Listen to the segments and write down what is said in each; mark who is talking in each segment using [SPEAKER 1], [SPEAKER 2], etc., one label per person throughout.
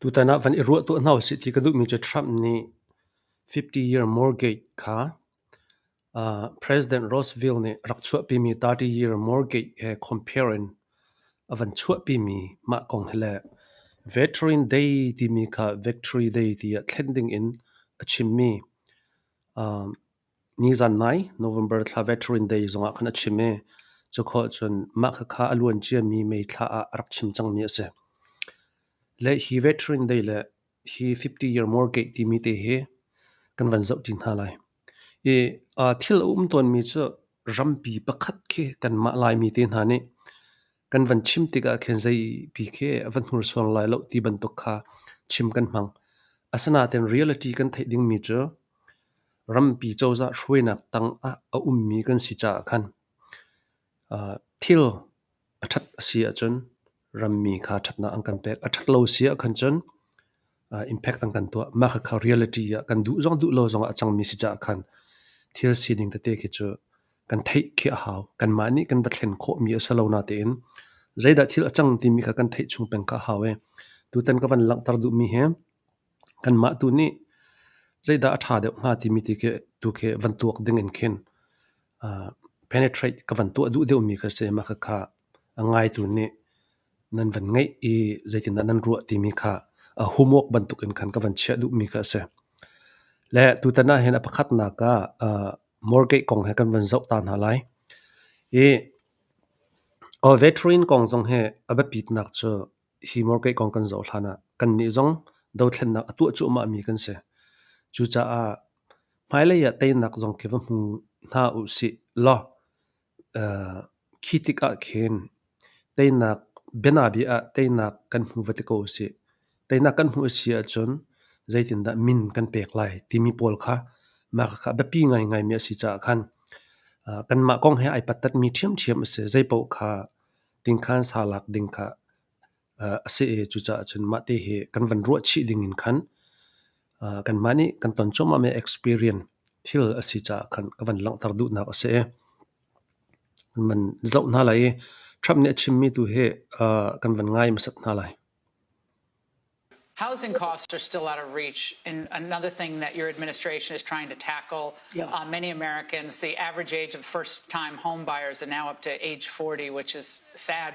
[SPEAKER 1] Tutan ah van i ruah tuah hna usih ti ka duhmi cu Trump nih fifty year mortgage kha ah President Roosevelt nih rak chuahpimi thirty year mortgage he compare in a van chuahpimi mah kong hi le Veteran Day timi kha Victory Day ti ah thlen ding in a chimmi um Nizan nai November thla Veteran Day zongah khan a chim i cu khawh ahcun mah khakha a luan ciami May thla ah a rak chim cangmi a si. Le hi Veteran Day le hi 50 Year Mortgage timi te hi kan van zoh ti hna lai. I aa thil a um tawnmi cu rampi pakhat khi kanmah Laimi te hna nih Kan van chim tikah khin zeipi khi a va hnursuar lai loh ti bantuk kha chim kan hmang. Asinain reality kan theih dingmi cu rampi cozah hruainak tang ah a ummi kan si caah khan thil a ṭhat a si ahcun rammi kha ṭhatnak an kan pek. A ṭhat lo a si ahkhan cun impact an kan tuah. Mah kha reality ah kan duh zong duh lo zong ah a cangmi si caah khan thil sining tete khi cu kan theih khi a hau. Kanmah nih kan va thlen khawhmi a si lo natein zeidah thil a cang timi kha kan theih chung peng kha a hau i tutan ka van langhter duhmi hi kanmah tu nih zeidah a ṭha deuh hnga timi ti khi tu khi van tuak ding in khin penetrate ka van tuah duh deuhmi kha si. Mah khakha a ngaitu nih Nan van ngeih i zeitindah nan ruah timi kha a homework bantuk in khan ka van chiah duhmi kha a si. Le tutan ah hin a pakhatnak ah uh, mortgage kong he kan van zoh ta hna lai. I uh, veteran kong zong hi a biapitnak cu hi mortgage kong kan zoh hlan ah kannih zong dothlennak a tuah cuahmahmi kan si. Cucaah hmailei ah teinak zong khi va hmu hna u sih law Khi tikah khin teinak bianabia ah teinak kan hmu va ti ko a si. Teinak kan hmuh a si ahcun zeitindah min kan pek lai timi pawl kha mah kha biapi ngaingaimi a si caah khan kanmah kong he ai pattatmi ṭhiamṭhiam a si. Zeipaoh kha tingkhan sa lak ding kha a si i cucaah cun mahte hi kan van ruah chih ding in khan kanmah nih kan ton cuahmah mi experience thil a si caah khan ka van langhter duhnak a si i man zoh hna lai i Trump nih a chimmi tu hi kan van ngai hmasat hna lai.
[SPEAKER 2] Housing costs are still out of reach. And another thing that your administration is trying to tackle yeah. on many Americans, the average age of first time home buyers are now up to age 40, which is sad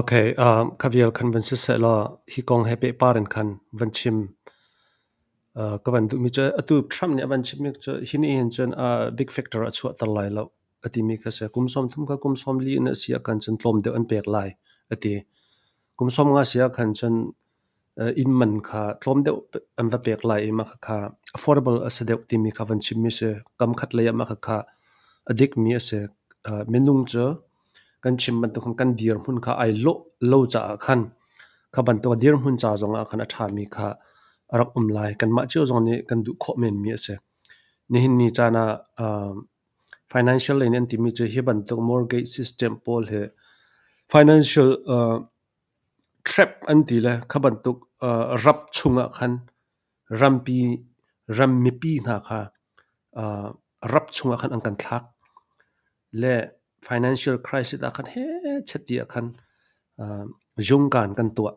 [SPEAKER 1] Okay, um, ka vial khan van si sehlaw hi kong he pehpar in khan van chim. Uh, ka van duhmi cu atu Trump nih a van chimmi cu hi nih hin cun uh, big factor a chuahter lai lo a timi ka si. Kum sawm thum ka kum sawm li in a si ah khan cun tlawm deuh an pek lai a ti. Kum sawm nga si ah khan cun inn man kha tlawm deuh an va pek lai i makhakha affordable a si deuh timi kha van chimmi a si. Kamkhat lei ah makhakha a dikmi a si. Minung cu kan chim bantuk khan kan dirhmun kha ai lawh lo caah khan kha bantuk a dirhmun ca zong ah khan a ṭhami kha a rak um lai. Kanmah cio zong nih kan duh khawh menmi a si. Nihin ni caan ah financial lei nih an timi cu hi bantuk mortgage system pawl hi financial Ṭhep an ti le kha bantuk rap chungah khan rampi, ram mipi hna kha rap chungah khan an kan thlak. Le financial crisis ah khan hechati ah khan zungkan kan tuah.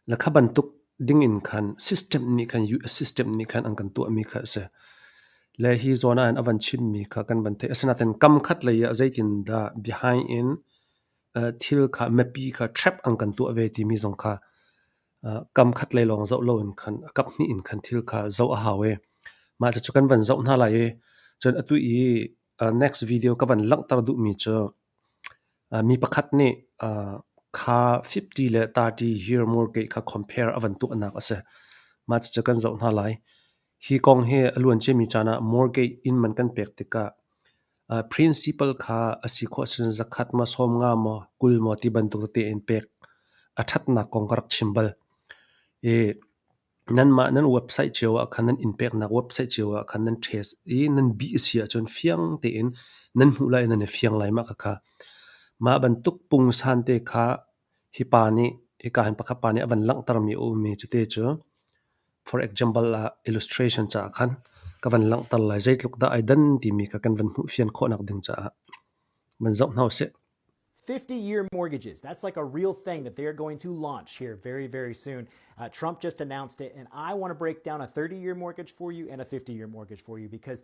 [SPEAKER 1] Le kha bantuk dingin khan system nih khan US system nih khan an kan tuahmi kha a si. Le hi zawn ah hin a van chimmi kha kan van theih. Asinain kam khat lei ah zeitindah behind in thil kha miapi kha trap an kan tuah ve timi zong kha kam khat lei lawng zoh loin khan a kap hnih in khan thil kha zoh a hau i mah cu kan van zoh hna lai i cun atu i next video ka van langhter duhmi cu mi pakhat nih kha 50 le 30 year more ke kha compare a van tuahnak a si mah cucu kan zoh hna lai hi kong hi a luan ciami caan ah mortgage inn man kan pek tikah Principal kha a si khawh ahcun zakhat ma sawm nga maw kul maw ti bantuk tete in pek a ṭhatnak kong ka rak chim bal. I nanmah nan website cio ah khan nan innpeknak website cio ah khan nan test i nan bih a si ahcun fiang tein nan hmuh lai nan i fiang lai mah khakha. Mah bantuk pungsan te kha Hi pa nih hika hin pakhat pa nih a van langhtermi a um i cuti cu for example ah illustration caah khan ka van langhter lai. Zeitluk dah ai dan timi kha kan van hmuhfian khawhnak ding caah van zoh hna usih. 50-year
[SPEAKER 3] mortgages. That's like a real thing that they're going to launch here very, very soon. Uh, Trump just announced it, and I want to break down a 30 year mortgage for you and a 50 year mortgage for you because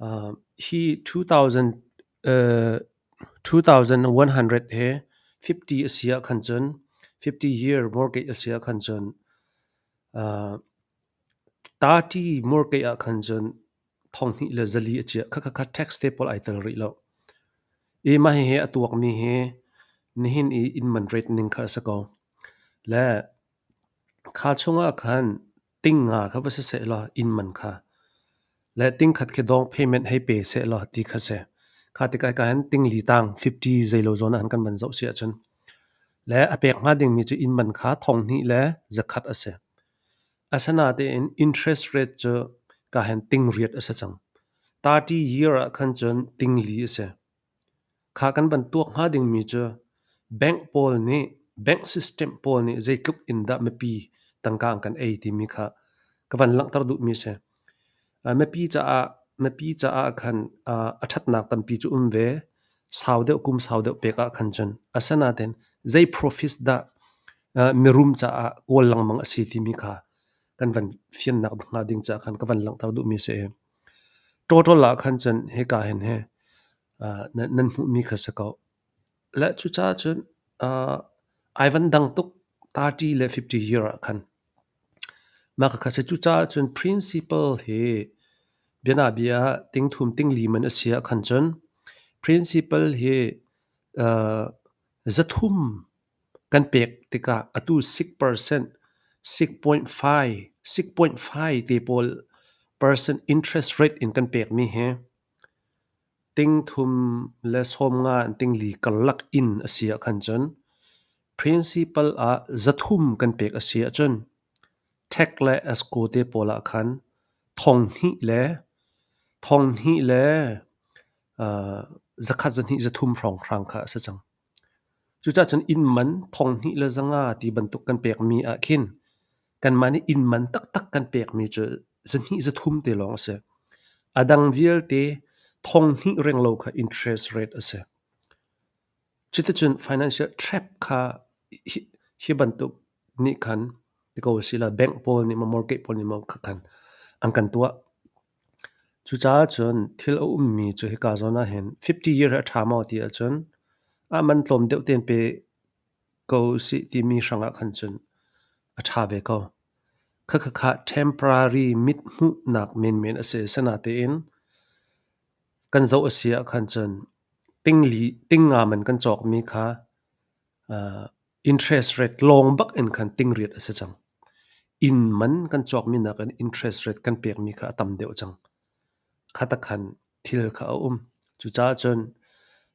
[SPEAKER 1] Hi two thousand one hundred he fifty a si ahkhan cun fifty year mortgage a si ahkhan cun thirty mortgage ahkhan cun thonghnih le zali a chiah khatkhat tax te pawl ai tel rih lo. I mah hihi a tuakmi hi nihin i in man rate ning kha a si ko. Le kha chungah khan Tingnga kha va si sehlaw innman kha, le tingkhat khi dawng payment hei pe sehlaw ti kha si. Kha tikai ka hin tingli tang 50 zeilo zawn an kan van zoh si ahcun, le a pek hnga dingmi cu innman kha thonghnih le zakhat a si. Asinatein interest rate cu ka hin tingriat a si cang. 30 year ah khan cun tingli a si. Kha kan van tuak hnga dingmi cu bank pawl nih bank system pawl nih zeitluk in dah mipi tangka an kan ei timi kha ka van langhter duhmi a si. Mipi caah mipi caah khan a ṭhatnak tampi cu um ve. Sau deuh kum sau deuh pek ah khan cun. Asinain zei profits dah mirum caah kawl lengmang a si timi kha kan van fiannak hnga ding caah khan ka van langhter duhmi a si. Total ah khan cun hika hin hi nan hmuhmi kha si ko. Le cucaah cun ai van dang tuk thirty le fifty year ah khan. Mah kha si cucaah cun principle hi bianabia tingthum tingli man a si ah khan cun principle hi zathum Kan pek tikah atu six percent, six point five, six point five te pawl percent interest rate in kan pekmi hi tingthum le sawmnga in tingli karlak in a si ahkhan cun principal ah zathum kan pek a si ahcun tax le escrow te pawl ahkhan thonghnih le thonghnih le zakhat zahnih zathum hrawnghrang kha a si cang. Cucacun inn man thonghnih le zanga ti bantuk kan pekmi ahkhin kanmah nih inn man taktak kan pekmi cu zahnih zathum te lawng a si. A dang vialte thonghnih renglo kha interest rate a si. Cuticun financial trap kha hi- hi bantuk nih khan ti ko a si la bank pawl nih maw mortgage pawl nih maw kha khan an kan tuah. Cucaah cun thil a ummi cu hika zawn ah hin fifty year hi a ṭha maw ti ahcun ah man tlawm deuh tein pe ko usih timi hrangah khan cun a ṭha ve ko. Khakhakha temporary mithmuhnak menmen a si. Asinatein kan zoh a si ahkhan cun tingli, tingngam in kan cawkmi kha Interest rate lawng bak in khan tingriat a si cang. Inn man kan cawkmi nakin interest rate kan pekmi kha a tam deuh cang. Khata khan thil kha a um. Cucaah cun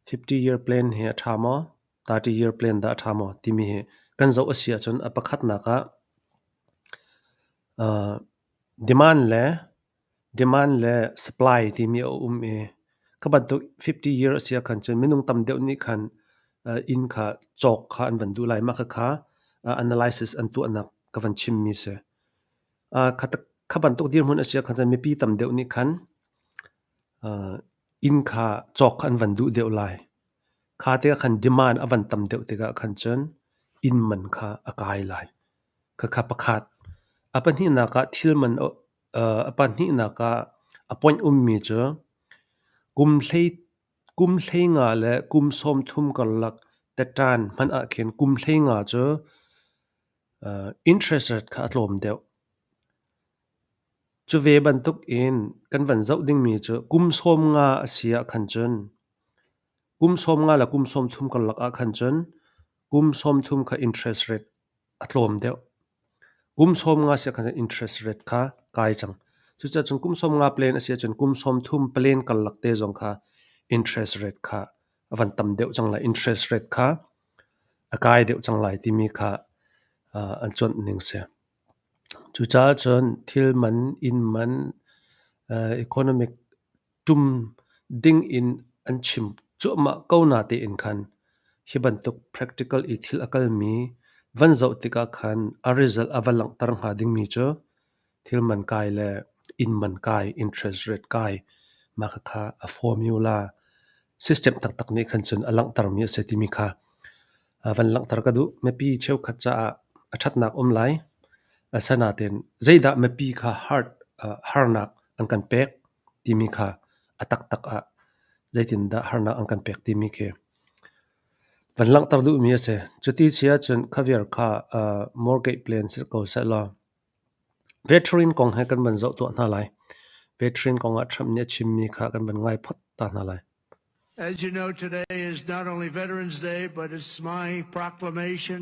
[SPEAKER 1] 50-year plan hi a ṭha maw, 30-year plan dah a ṭha maw timi hi kan zoh a si ahcun a pakhatnak ah uh, demand le Demand le supply timi a um i kha bantuk fifty year a si ahkhan cun minung tam deuh nih khan inn kha cawk kha an van duh lai. Mah khakha analysis an tuahnak ka van chimmi si. Kha bantuk dirhmun a si ahkhan cun mipi tam deuh nih khan inn kha cawk kha an van duh deuh lai. Kha tikah khan demand a van tam deuh tikah khan cun inn man kha a kai lai. Khakha pakhat. A pahnihnak ah thil man A pahnihnak ah a ponh ummi cu kum hlei nga le kum sawmthum karlak tatṭan hman ahkhin kum hlei nga cu interest rate kha a tlawm deuh. Cu ve bantukin kan van zoh dingmi cu kum sawm nga a si ahkhan cun kum sawm nga le kum sawmthum karlak ahkhan cun kum sawmthum kha interest rate a tlawm deuh. Kum sawmnga si ahkhan interest rate kha kai cang. Cucacun kum sawmnga plan a si ahcun kum sawmthum plan karlak te zong kha interest rate kha a van tam deuh cang lai. Interest rate kha a kai deuh cang lai timi kha uh, an cuanh ning si. Cucaah cun thil man, inn man, uh, economic ṭum ding in an chim cuahmah ko natein khan hi bantuk practical i thil a kalmi van zoh tikah khan a result a va langhter hnga dingmi cu thil man kai le inn man kai interest rate kai ma kha kha a formula system taktak nih khan cun a langhtermi a si timi kha van langhter ka duh mipi cheukhat caah a ṭhatnak um lai asanaten zeidah mipi kha hard harnak an kan pek timi kha a taktak ah zeitindah harnak an kan pek timi khi van langhter duhmi a si. Cuti si ahcun kha vial kha uh, mortgage plan si ko sehlaw veteran kong he kan van zoh tuah hna lai. Veteran kong ah Trump nih a chimmi kha kan van ngai phot ta hna lai. As you know,
[SPEAKER 4] today is not only Veterans Day, but it's my proclamation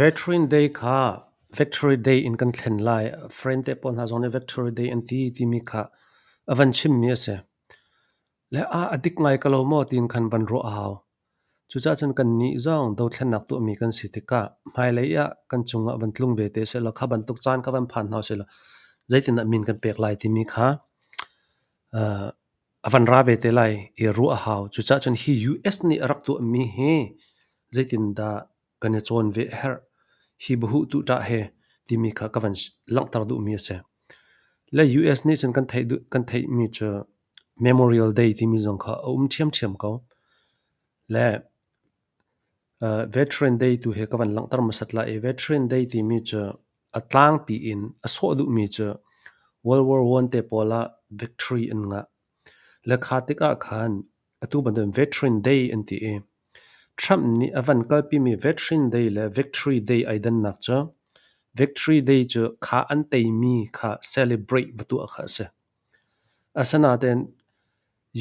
[SPEAKER 1] Veteran Day kha Victory Day in kan thlen lai. Friend te pawl hna zong nih Victory Day an ti timi kha a van chimmi a si. Le ah a dik ngai ko lo maw tiin khan van ruah a hau. Cucaah cun kannih zong dothlennak tuahmi kan si tikah hmailei ah kan cungah van tlung ve te sehlaw kha bantuk caan kha van phan hna sehlaw zeitindah min kan pek lai timi kha uh, A van ra ve te lai i ruah a hau. Cucaah cun hi US nih a rak tuahmi hi zeitindah kan i cawn ve a herh? Hi bahuhtu ṭah he timi kha ka van langhter duhmi a si. Le US nih cun kan theih, kan theihmi cu Memorial Day timi zong kha a um ṭhiamṭhiam ko. Le Veteran Day tu hi ka van langhter hmasat lai i Veteran Day timi cu a tlangpi in a sawh duhmi cu World War One te pawl ah victory an ngah. Le kha tikah khan atu bantukin Veteran Day an ti i Trump nih a van kalpimi Veteran Day le Victory Day ai dannak cu Victory Day cu kha an teimi kha celebrate va tuah kha a si. Asinain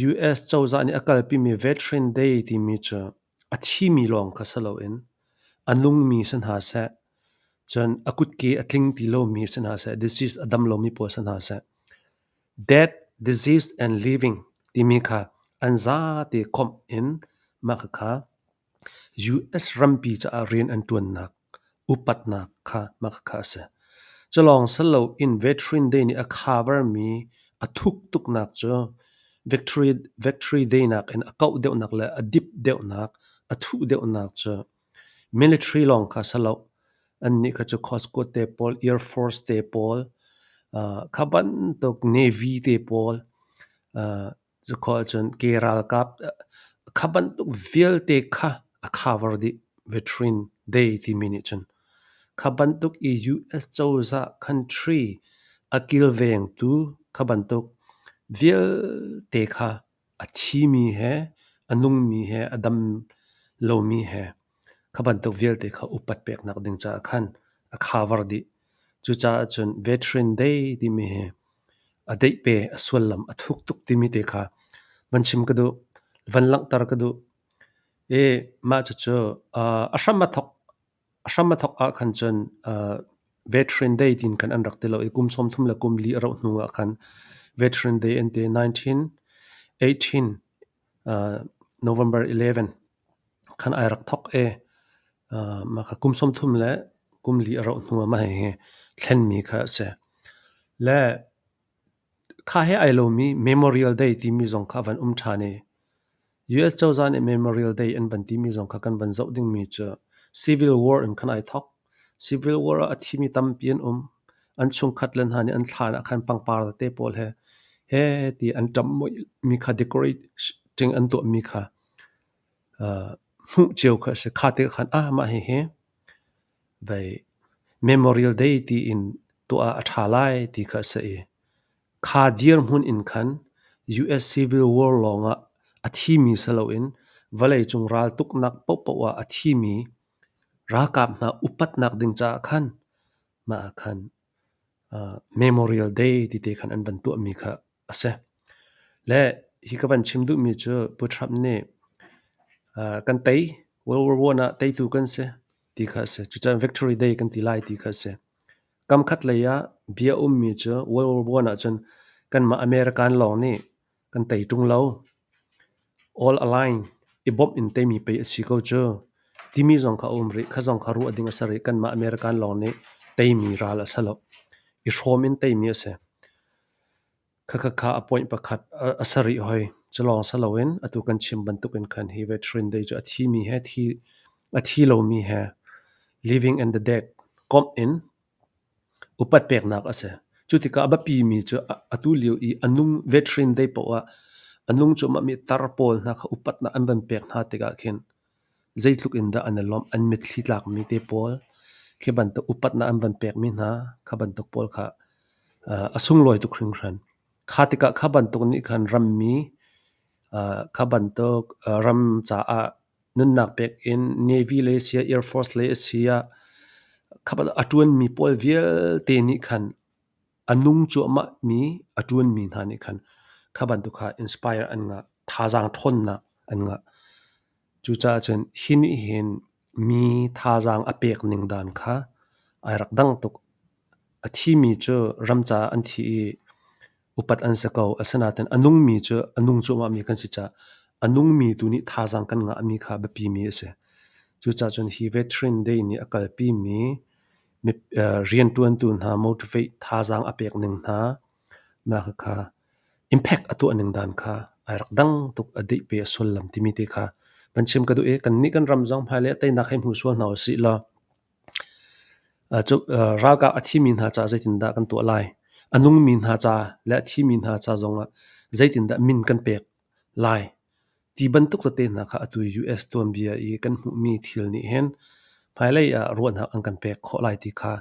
[SPEAKER 1] US cozah nih a kalpimi veteran day timi cu a thimi lawng kha si loin a nungmi si hna seh, cun a kutke a tling ti lomi si hna seh, disease a dam lomi pawl si hna seh, death, disease and living timi kha an zate khawmh in mah khakha US rampi caah rian an ṭuannak upatnak kha hmakha a si. Culawng sal loin Veteran Day nih a khabarmi a thuk tuknak cu Veteran Day nakin a kauh deuhnak le a dip deuhnak, a thuh deuhnak cu military lawng kha si lo. Annih kha cu Costco te pawl, Air Force te pawl, kha bantuk Navy te pawl, Cukhua ahcun ke ralkap kha bantuk vialte kha a cover dih. Veteran Day timi nih cun kha bantuk i US cozah country a kilvengtu kha bantuk vialte kha a thi mi he, a nung mi he, a dam lomi he Kha bantuk vialte kha upat peknak ding caah khan a khavar dih. Cucaah cun veteran day timi hi a deih pe, a suallam a thuk tuk timi te kha van chim ka duh, van langhter ka duh. I mah cucu uh, a hram a thok, a hram a thok ah khan cun uh, veteran day tin kan an rak ti lo i kum sawm thum le kum li a rauh hnu ah khan veteran day an ti 1918 uh, November 11 Kan ai rak thawk i mah kha kum sawmthum le kum li a rauh hnu ah mah hihi thlenmi kha a si. Le kha he ai lomi Memorial Day timi zong kha a van um ṭhan i US cozah nih Memorial Day an van timi zong kha kan van zoh dingmi cu Civil War in kan ai thawk. Civil War ah a thimi tampi an um. An chungkhat le hna nih an thlan ah khan pangpar tete pawl he he ti an ṭamh mi kha decorate an tuahmi kha hmuh cio kha a si. Kha tikah khan mah hihi vei memorial day tiin tuah ah a ṭha lai ti kha a si i kha dirhmun in khan US Civil War lawngah a thimi si loin vawleicung raltuknak pohpoh ah a thimi ralkap hna upatnak ding caah khan mah ah khan memorial day ti te khan an van tuahmi kha a si. Le hi ka van chim duhmi cu Pu Trump nih kan tei World War One ah teitu kan si ti kha a si. Cucaah Victory Day kan ti lai ti kha a si. Kamkhat lei ah bia ummi cu World War One ahcun kanmah American lawng nih kan tei ṭung lo. All Align i bawmh in teimi pei a si ko cu timi zong kha a um rih. Kha zong kha ruah ding a si rih. Kanmah American lawng nih teimi ral a si lo. I hrawm in teimi a si. Khakhakha a point pakhat a sarih hoi. Culawng si loin atu kan chim bantukin khan hi ve Ṭhirindei cu a thimi he a thi lomi he living and the dead komh in upat peknak a si. Cu tikah a biapimi cu atu lio i a nung ve Ṭhirindei paoh ah a nung cuahmahmi tar pawl hna kha upatnak an van pek hna tikah khin Zeitluk in dah an i lawmh, an mitthli tlakmi te pawl, khi bantuk upatnak an van pekmi hna, kha bantuk pawl kha a sunglawi tuk hringhran. Kha tikah kha bantuk nih khan rammi, kha bantuk ram caah nunnak pek in Navy le si ah Air Force le a si ah, kha bantuk a ṭuanmi pawl vialte nih khan A nung cuahmahmi a ṭuanmi hna nih khan kha bantuk kha inspire an ngah, thazaang ṭhawnnak an ngah. Cucaah cun hi nih hin mi thazaang a pek ning dan kha ai rak dang tuk. A thimi cu ram caah an thi i upat an si ko. Asinain a nungmi cu a nung cuahmahmi kan si caah a nungmi tu nih thazaang kan ngahmi kha biapimi a si. Cucaah cun hi Veteran Day nih a kalpimi rianṭuantu hna motivate thazaang a pek ning hna mah kha impact a tuah ning dan kha ai rak dang tuk a deih pe a sullam timi te kha van chim ka duh i kannih kan ram zong hmailei ah teinak hei hmu sual hna u sih law ralkah a thimi hna ca zeitindah kan tuah lai a nungmi hna ca le a thimi hna ca zongah zeitindah min kan pek Lai: Ti bantuk tete hna kha atu US tuanbia i kan hmuhmi thil nih hin hmailei ah ruahnak an kan pek khawh lai ti kha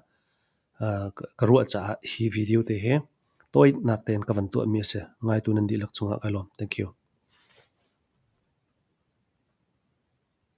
[SPEAKER 1] ka ruah caah hi video te hi tawitnak tein ka van tuahmi a si. Ngaitu nan dihlak cungah kai lawm. Thank you.